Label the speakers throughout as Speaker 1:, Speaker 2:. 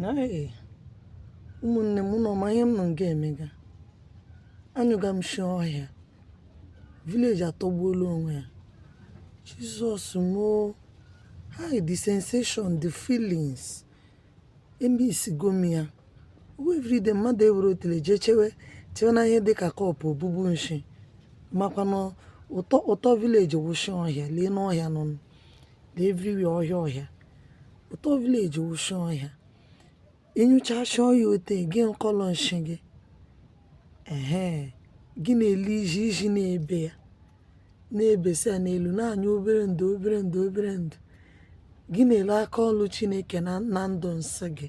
Speaker 1: Hey, ụmụnne m unu ma ihe m nọ nga emega anyụga m nshi ọhịa village atọgbuola onwe ya jizọs mo hi the sensation the feelings emisigo m ya oo everyday mmadụ ewere otele jee chewe na ihe dịka kọpụ obubu nshi makwa na ụtọ village wụ nshi ọhịa leenụ ọhịa nụ lee everywhere ọhịa ọhịa ụtọ village wụ nshi ọhịa ị nyụchaa nshi ọhịa ote gị nkọlọ nshi gị ehe gị na-ele ijiji na-ebe ya na-ebesi ya n'elu na-anyụ obere ndụ obere ndụ obere ndụ gị na-ele aka ọlụ chineke na ndụ nshi gị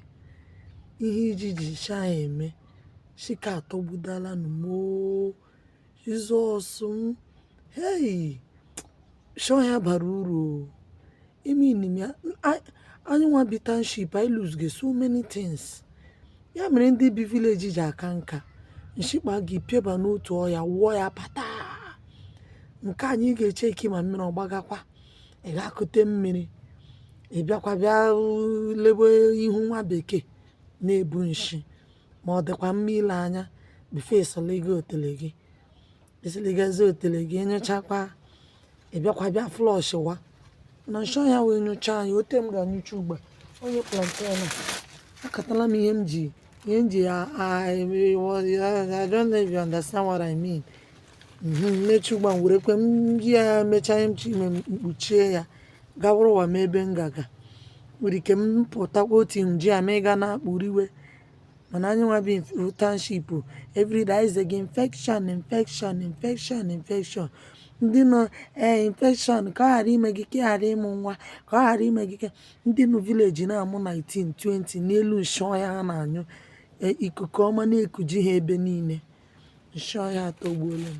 Speaker 1: ihe ijiji ji nshi eme nshi ka atọgbudala nụ m oo Jizọs m hei nshi ọhịa bara uru imenim ya anyị nwa bi township anyị lose ga so many things ya mere ndị bi village ji aka nka nshi kpaa gị pịaba n'otu ọhịa wụọ ya pụta nke anyị ga-eche ike ma mmiri ọ gbagakwa ị ga-ekute mmiri ị bịakwa bịa lebe ihe nwa bekee na-ebu nshi ma ọ dịkwa mma ile anya before ịsọligo otele gị ịsịligazi otele gị ị nyụchakwa ị bịakwa bịa flushịwa na nshi ọhịa wee nyụchaa ya otu m ga-anyụcha ugbu a onye plantain a akatala m ihe m ji ihe m ji ya I don't know if you understand what I mean m mechaa ugbu a m were kwe m ji ya mechaa ihe m chọ ime m kpuchie ya gawụrụ ụwa m ebe m ga-aga nwere ike m pụtakwa otu nji a ma ị ga na-akpụriwe mana anyị nwa bi township everyday anyị zega infection infection infection infection ndị nọ ee infection ka ọ ghara ime gị ka ị ghara ịmụ nwa ka ọ ghara ime gị ka ndị nọ village na-amụ 19 20 n'elu nshi ọhịa ha na-anyụ e, ikuku ọma na-ekuji ha ebe niile nshi ọhịa atọgbuola m